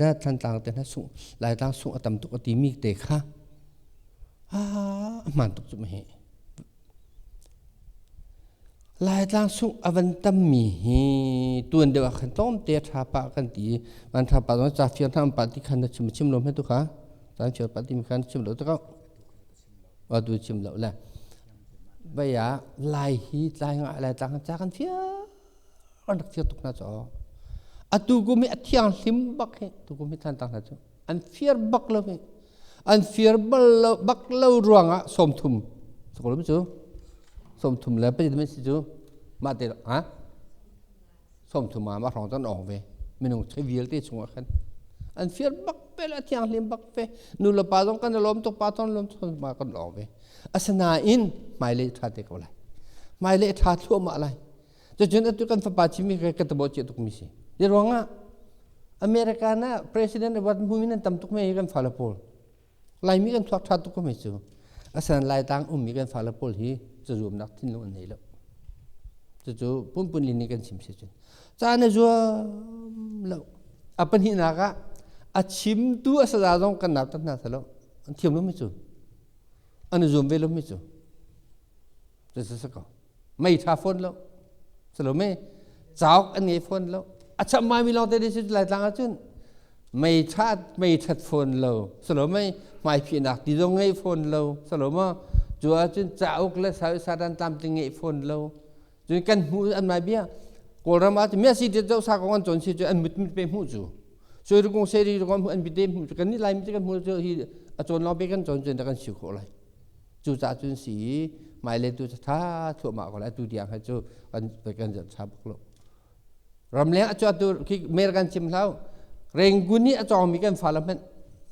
na thantlang te na sung laitlang sung a tam tuk a ti mi te kha a hman tuk cu ma hi laitlang sung a van tam mi hi tuan deuh ah khan tom te tha pa kan ti man tha pa zong cha fir tham pa ti khan na chim chim lo me tu kha tan chir pa ti mi khan chim lo ta ko wa du chim lo le baya lai hi tlai nga lai ta khan cha kan fia an rak fir tuk hna cu atu kum i a thianghlim bak hi tu kum hi thantak hna cu an fir bak lo hi an fir bal lo bak lo ruangah sawmthum sakalam cu sawmthum le pajit min si cu mah te ha sawmthum ah mah hrawng cun awng ve minung chei vialte chungah khan an fir bak pe le a thianghlim bak pe nu le pa zong kan lawm tuk pa ton lawm tuk ma kan awng ve Asinain hmailei ṭha te ko lai. Hmailei ṭha thluahmah lai. Cucun atu kan fapa cimi ka ka tabo ciah tukmi si. Hi ruangah America na president awat mui nan tam tuk mei kan fale pawl. Laimi kan thuak ṭha tuk ko mei cu. Asan laitang ummi kan fale pawl hi cazuamnak thinlung an nei lo. Cucu punpun lini kan chim si cun. Ca na zuam lo. A pahnihnak ah a chimtu a saza zong kan nautat hna salo. An thiam lo mi cu. an i zuam ve lomi cu cucu sa ko meitha fawn lo salome cauk an ngei fawn lo a cham ngaimi lawng te cu laitlang ahcun meitha meithat fawn lo salome hmaiphihnak ti zong ngei fawn lo saloma cu ahcun cauk le satan tam ti ngei fawn lo Cu kan hmu an mai bia Kawlram ah Messi dit zo sa ko an chon si cu an mit mit pe hmu cu. Soi ru kong se ri ru kong mu an bi te hmu kan ni lai mi te kan hmu cu hi a chon lo pe kan chon cun da kan siu khawh lai. Cu ca cun si mai le tu tha thua ma ko lai tu diang ha cu an kan zat sa buk lo. ramleng a cuatu khi mer kan cim hlau rengun i a cawngmi kan fale hmanh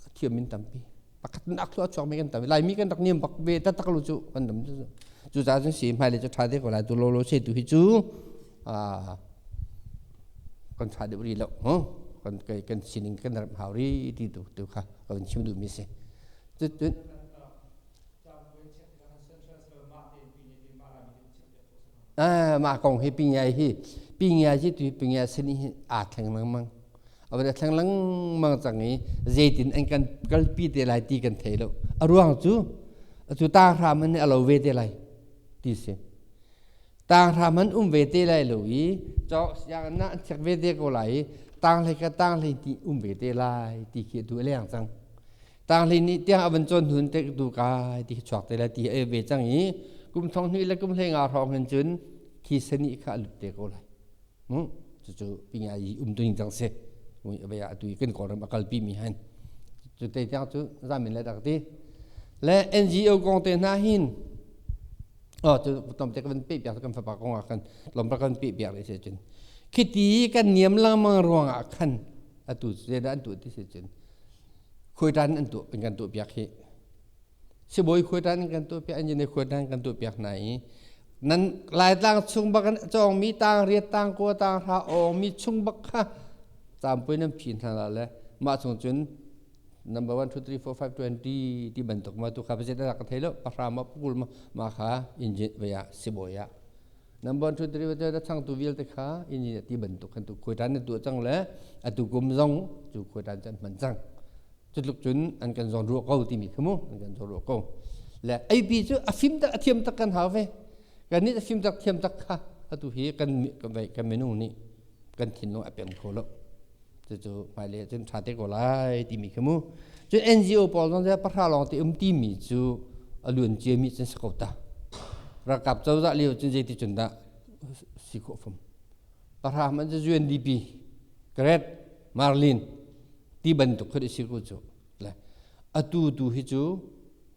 a thiam in tampi pakhat in akhlu a chuakmi kan tam laimi kan rak niam bak ve taktak lu cu kan tam cu cucaah cun si hmailei cu ṭha te ko lai tu lo lo se tu hi cu kan ṭha deuh rih lo kan kan sining kan ram hau rih ti tu tu kha kan chim duhmi si cutun mah kong hi pingiai hi pingiai hi tu pingiai sin hi aa thleng lengmang a va thleng lengmang cang i zeitin an kan kalpi te lai ti kan thei lo a ruang cu cu ta hram in a lo ve te lai ti si tang hram an um ve te lai lo i cawk siang na an chek ve te ko lai i tang hlei ka tang hlei ti um ve te lai ti khi tu a leng cang Taanghlin nih tiang a van cawn hun te tu kai ti chuak te le ti e ve cang i kum thong hnih le kum hlei nga hrawng hin cun khi seni kha a lut te ko lai hm cucu pinga i um tung cang si vei a tu kan kawlram a kalpi mi han cu te tiang cu zamin le dak ti le NGO kong te hna hin oh cu tom te kan pe piak kan fapa kong ah kan lom ra kan pe piak le se cun khi ti kan niam lengmang ruang ah khan atu se da an tu ti se cun khuaitan an tuh in kan tuh piak hi sibawi khuaitan in kan tuh piak engineer khuaitan kan tuh piak hna i nan laitlang chung bak in cawngmi tang riat tang kua tang hra awngmi chung bak kha campui nan phin hna la le mah chung cun number one two three four five twenty ti bantuk ma tu kha pa zet ka thei lo pahra ma pukul ma ma kha engine vaya sibawi ah Number 2 derivative na changtu vialte kha in in ti bantuk khan tu khuaitan na tuah cang le atu kum zong cu khuaitan can hman cang cutluk cun an kan zawn ruah ko timi kha mu an kan zawn ruah ko le AP cu a fim tak a thiam tak kan hau ve kan nih a fim tak thiam tak kha atu hi kan kan kan minung nih kan thinlung a pem kho lo cucu hmailei cun ṭha te ko lai timi kha mu cun NGO pawl zong cu pahra lawng te um timi cu a luan ciami cun si ko ta ralkap cozah lio cun zeiti cun dah si khawh fam pahra hmanh cu UNDP Grad Marlin ti bantuk khan i si ko cu atu tu hi cu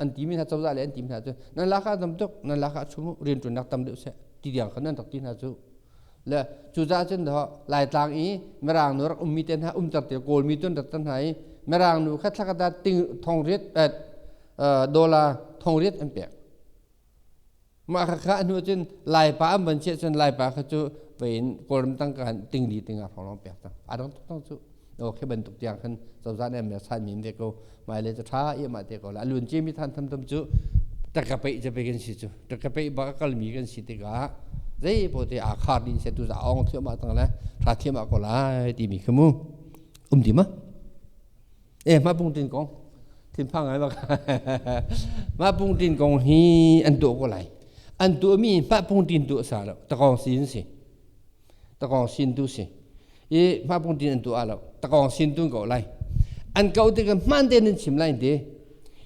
an timi hna cozah le an timi hna cu nan laka tam tuk nan laka chung rianṭuannak tam deuh seh ti diang khan an rak ti hna cu le cucaah cun daw laitlang i mirangnu rak ummi te hna umter te kawlmi tu an rat hna i mirangnu kha thlakata ting thong riat dollar thong riat an pek Mah ka khah hnu cun Laipa an van si ahcun Laipa kha cu vein Kawlram tangka khan tingli tingah hronglawng pek cang. A dang tuktuk cu aw khi bantuk tiang khan cozah nih an bia sanmi an vek ko. Hmailei cu ṭha ihmah te ko lai. A luan ciami than tamtam cu takapeih cape kan si cu. Takapeih bak a kalmi kan si tikah zei pote aa khar dih seh tu caah awng thiamah tang le ṭha thiamah ko lai timi kha mu um dim a. Eh mah Pung Tin Kong thinphang ngai bak. mah Pung Tin Kong hi an tuah ko lai. An tuahmi mah Pung Tin tu a sa lo. Takong sin si. Takong sin tu si. I mah Pung Tin an tuah lo. Takong sin tu ko lai. An kau ti ka man te nan chim lai ti.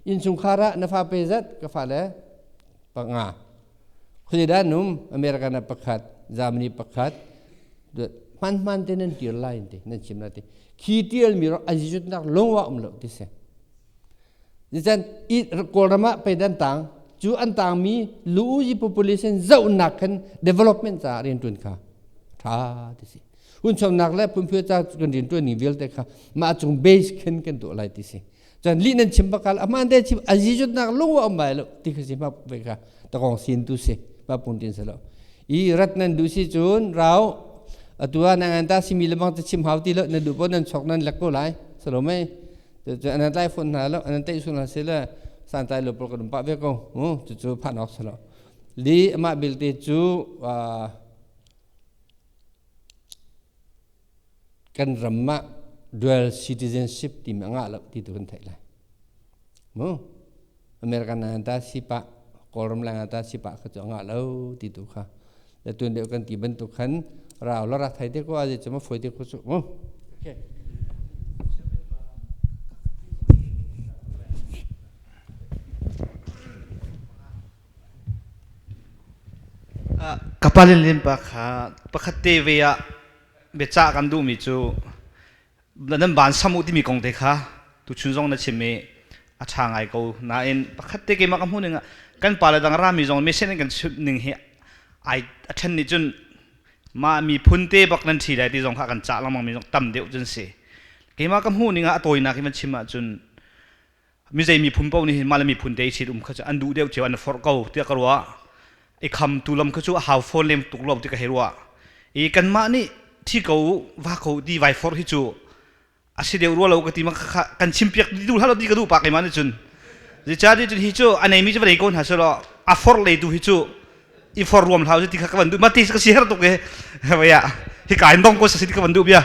Insungkhara na fa pe zat ka fa le pa nga. Khuazedah num American ah pakhat, Germany pakhat, hman hman te nan tir lai ti nan chim na ti khi tial mi rak an si chut nak longwa um lo ti se nichan kawlram ah pei dan tang cu an tang mi lu yi population zau nak khan development ca rian tun kha tha ti si hun chom nak le phun phyo ca kan rian tun ning vialte kha ma chung base khan kan to lai ti si cun li nan chim bakal aman te chim azi jutnak lung wa um bai lo ti khi si ma ve ka takong sin tu si ma pun tin sa lo i rat nan du si cun rau atua nang an ta simi lemang ta chim hau ti lo na du po nan chok nan lak ko lai sa lo mei cu anan lai phun hna lo anan tai sun hna se le san tai lo pol ka dum pa ve ko cu cu phan ok sa lo li ama bil te cu kan ram ah dual citizenship timi a ngah lo ti tu kan theih lai. Mu America na ta sipah Kawlram la ta sipah kha cu a ngah lo ti tu kha. Le tuan deuh kan ti bantuk khan rau la rak thai te ko a je cuma foi te ko cu mu. Okay. Ka pale le innpa kha pakhat te ve ah biacah kan duhmi cu nan van sam u timi kong te kha tuchun zong na chim i a ṭha ngai ko. Nain pakhat te keimah ka hmuhning ah kan pale dang rami zong mesen in kan chimhning hi ai a ṭhen nih cun mah miphun te bak nan ṭhi lai ti zong kha kan cah lengmangmi zong tam deuh cu an si. Keimah ka hmuhning ah a tawinak i van chim ahcun mizei miphun paoh nih mah le miphun te i sit um kha cu an duh deuh cio an i forh ko tiah ka ruah i khamtu lam kha cu a hau fawn lem tuk lo ti ka hei ruah i kanmah nih thi ko va ko ti vai forh hi cu a si deuh rua lo ka ti ma khakha kan chim piak ti duh hlah law ti ka duh pa ke ma nih cun zica di cun hi cu a neimi cu va dei ko hna selaw a forh le tu hi cu i forh ruam hlau cu ti kha ka van duh ma ti ka si har tuk e vaya hi ka in dong ko sa si ti ka van duh bia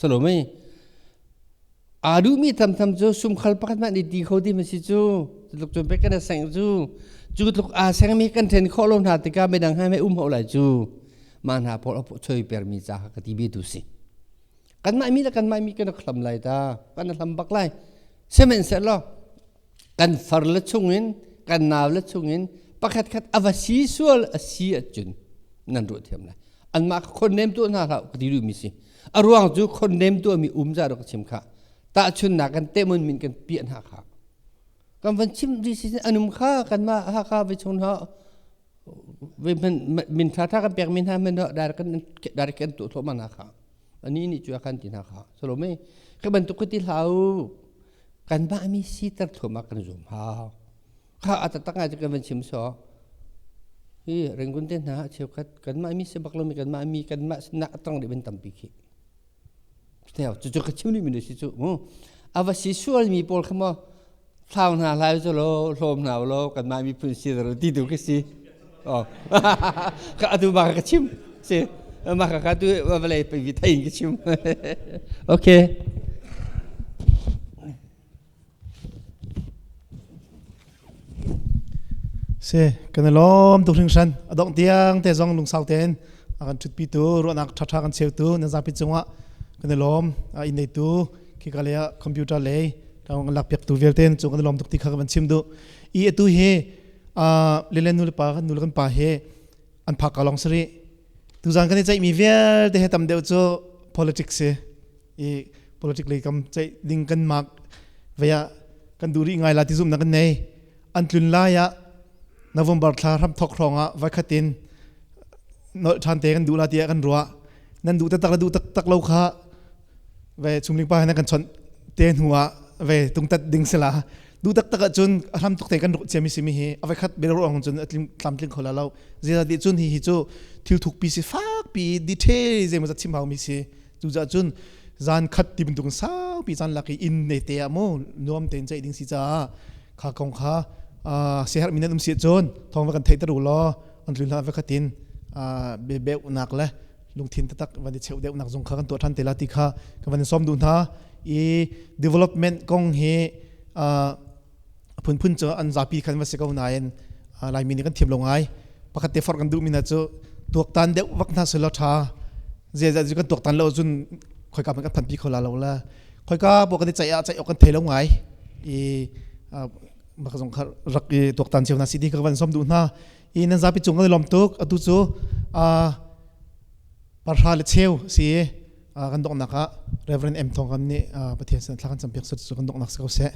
salome aa duhmi tamtam cu sumkhal pakhat mah nih ti kho ti ma si cu tluk cu bek kan seng cu cu tluk aa sengmi kan then khawh lo hna tikah midang hai mei um ho lai cu ma hna pol a choi permi ca ka ti bi tu si kan mah mi le kan mah mi kan rak hlam lai ta kan hlam bak lai semen set law kan far le chungin kan nau le chungin pakhatkhat a va si sual a si ahcun nan ruah thiam lai anmah kha khonnem tuah hna hlah ka ti duhmi si a ruang cu khonnem tuahmi um za rak chim kha tahchunnak kan temun min kan piah hna kha kan van chim dih si anum kha kanmah hakha ve chung hna min ṭhaṭha kan pekmi hna hmanh ah direct kan direct kan tuah thluahmah hna kha anih nih cu a kan ti hna kha Salome khi bantuk khi ti hlah u kan bahmi siter thluahmah kan zum hau kha a tatak ngai kan van chim saw hi ringun te hna cheukhat kanmah mi sebak lomi kanmah mi kanmah sinak a tang dih van tampi khi cucu ka chim ni min si cu mu ava si sual mi pawl kha maw thlau hna hlai cu law hlawm hna law kan mah miphun si ro ti tu ka si oh ka atu ba ka chim si ma ka ka tu vale pi thai ka chim okay Si kan i lawm tuk hringhran a dongh tiang te zong lungsau tein a kan ṭhutpitu ruahnak ṭhaṭha kan cheutu nan zapi cungah kan i lawm a inn neitu khika lei ah computer lei kan lakpiaktu vialte cu kan i lawm tuk ti kha ka van chim duh i atu hi lile nu le pa nu le kan pa hi an phak ka long sari tuzan kan i ceih mi vialte he tam deuh cu politics si i politics lei kam ceih ding kan mark vaya kan du ri ngai la ti zum na kan nei an tlun la ya november thla ram thok hrong a vai khatin no than te kan du la ti kan ruwa nan du tak la du tak tak lo kha ve chungling pa na kan chawnh te hnu ah ve tungtat ding sela du tak tak cun a hram tuk te kan ruh chiami simi hi a veikhat bel ruang cun atlim tlam tling khola lo zia di cun hi hi cu thil thuk pi si fak pi detail ze ma chim hau mi si cu za cun zan khat tim tung sau pi chan laki in ne te a mu nuam ten chai ding si cha kha kong kha sehar minan um si cun thong va kan thei taru lo an tlun la ve khatin be be unak le lungthin taktak van i cheu deuhnak zong kha kan tuah ṭhan te la ti kha ka van in sawm duh hna i development kong hi phunphun cu an zapi khan va si ko nain laimi nih kan thiam lo ngai pakhat te forh kan duhmi hna cu tuaktan deuh vak hna selaw ṭha ziaza cu kan tuaktan lo cun khoika man kan phanpi kho la lo la khoika bo kan i ceih ah ceih awk kan thei lo ngai i maka zong kha rak i tuaktan cio hna si ti kha van som duh hna i nan zapi cung kan i lawm tuk atu cu parhra le cheu si kan donghnak ah Reverend M Thawng kan nih Pathian sin thla kan cam piak su kan donghnak si ko seh